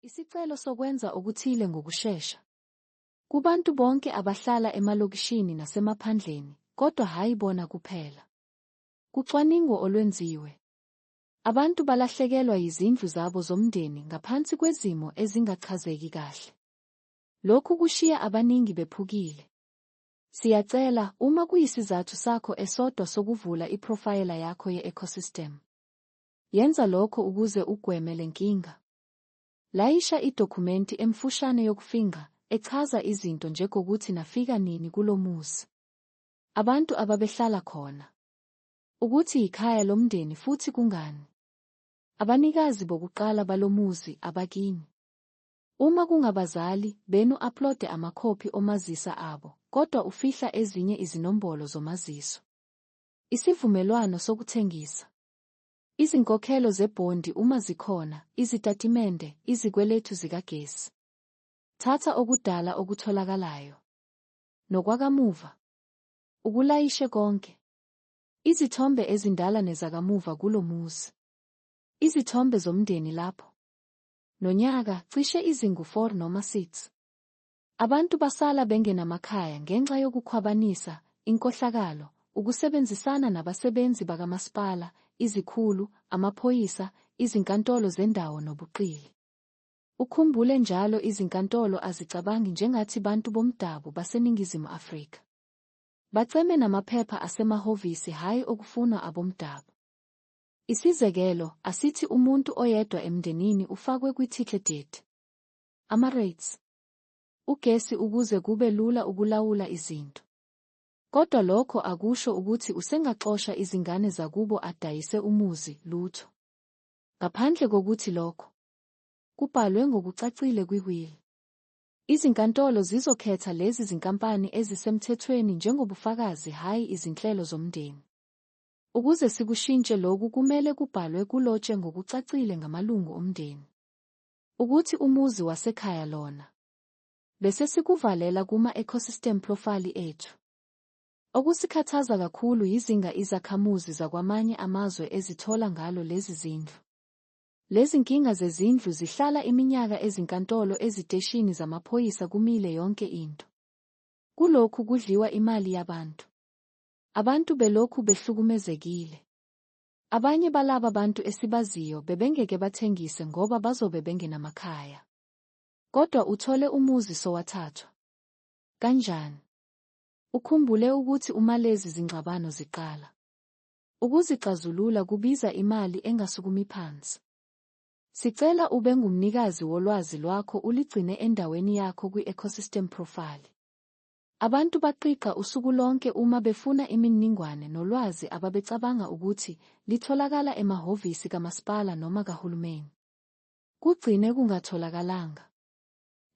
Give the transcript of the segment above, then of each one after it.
Isicelo sokwenza okuthile ngokushesha. Kubantu bonke abahlala emalokishini nasemaphandleni, kodwa hhayi bona kuphela. Kucwaningo olwenziwe. Abantu balahlekelwa yizindlu zabo zomndeni ngaphansi kwezimo ezingachazeki kahle. Lokhu kushiya abaningi bephukile. Siyacela, uma kuyisizathu sakho esodwa sokuvula iphrofayela yakho ye-ecosystem, yenza lokho ukuze ugweme le nkinga. Layisha idokhumenti emfushane yokufingqa echaza izinto njegokuthi nafika nini kulo muzi, abantu ababehlala khona, ukuthi yikhaya lomndeni futhi kungani abanikazi bokuqala balo muzi abakini. Uma kungabazali benu aplode amakhophi omazisa abo kodwa ufihla ezinye izinombolo zomaziso. Isivumelwano sokuthengisa. Izinkokhelo zebhondi uma zikhona, izitatimende, izikweletu zikagesi. Thatha okudala okutholakalayo. Nokwakamuva. Ukulayishe konke. Izithombe ezindala nezakamuva kulo muzi. Izithombe zomndeni lapho. Nonyaka, cishe izingu-4 noma 6. Abantu basala bengenamakhaya ngenxa yokukhwabanisa, inkohlakalo, ukusebenzisana nabasebenzi bakamasipala, izikhulu, amaphoyisa, izinkantolo zendawo nobuqili. Ukhumbule njalo izinkantolo azicabangi njengathi bantu bomdabu baseNingizimu Afrika. Baceme namaphepha asemahhovisi hhayi okufunwa abomdabu. Isizekelo, asithi umuntu oyedwa emndenini ufakwe kwi-ticket deed. Ama-rates. Ugesi ukuze kube lula ukulawula izinto. Kodwa lokho akusho ukuthi usengaxosha izingane zakubo adayise umuzi, lutho. Ngaphandle kokuthi lokho kubhalwe ngokucacile kwi-will. Izinkantolo zizokhetha lezi zinkampani ezisemthethweni njengobufakazi hhayi izinhlelo zomndeni. Ukuze sikushintshe loku kumele kubhalwe kulotshe ngokucacile ngamalungu omndeni. Ukuthi umuzi wasekhaya lona. Bese sikuvalela kuma-ecosystem profile ethu. Okusikhathaza kakhulu yizinga izakhamuzi zakwamanye amazwe ezithola ngalo lezi zindlu. Lezinkinga zezindlu zihlala iminyaka ezinkantolo eziteshini zamaphoyisa kumile yonke into. Kulokhu kudliwa imali yabantu. Abantu belokhu behlukumezekile. Abanye balaba bantu esibaziyo bebengeke bathengise ngoba bazobe bengenamakhaya. Kodwa uthole umuzi sowathathwa. Kanjani? Ukhumbule ukuthi uma lezi zingxabano ziqala, ukuzixazulula kubiza imali engasukumi phansi. Sicela ube ngumnikazi wolwazi lwakho uligcine endaweni yakho kwi-ecosystem profile. Abantu baqiqa usuku lonke uma befuna imininingwane nolwazi ababecabanga ukuthi litholakala emahhovisi kamasipala noma kahulumeni. Kugcine kungatholakalanga.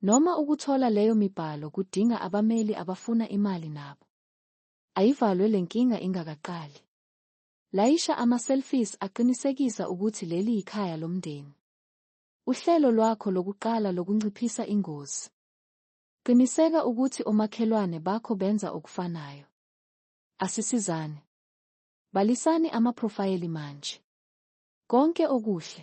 Noma ukuthola leyo mibhalo kudinga abameli abafuna imali nabo. Ayivalwe le nkinga ingakaqali. Layisha ama-selfies aqinisekisa ukuthi leli yikhaya lomndeni. Uhlelo lwakho lokuqala lokunciphisa ingozi. Qiniseka ukuthi omakhelwane bakho benza okufanayo. Asisizane. Balisani amaphrofayeli manje. Konke okuhle.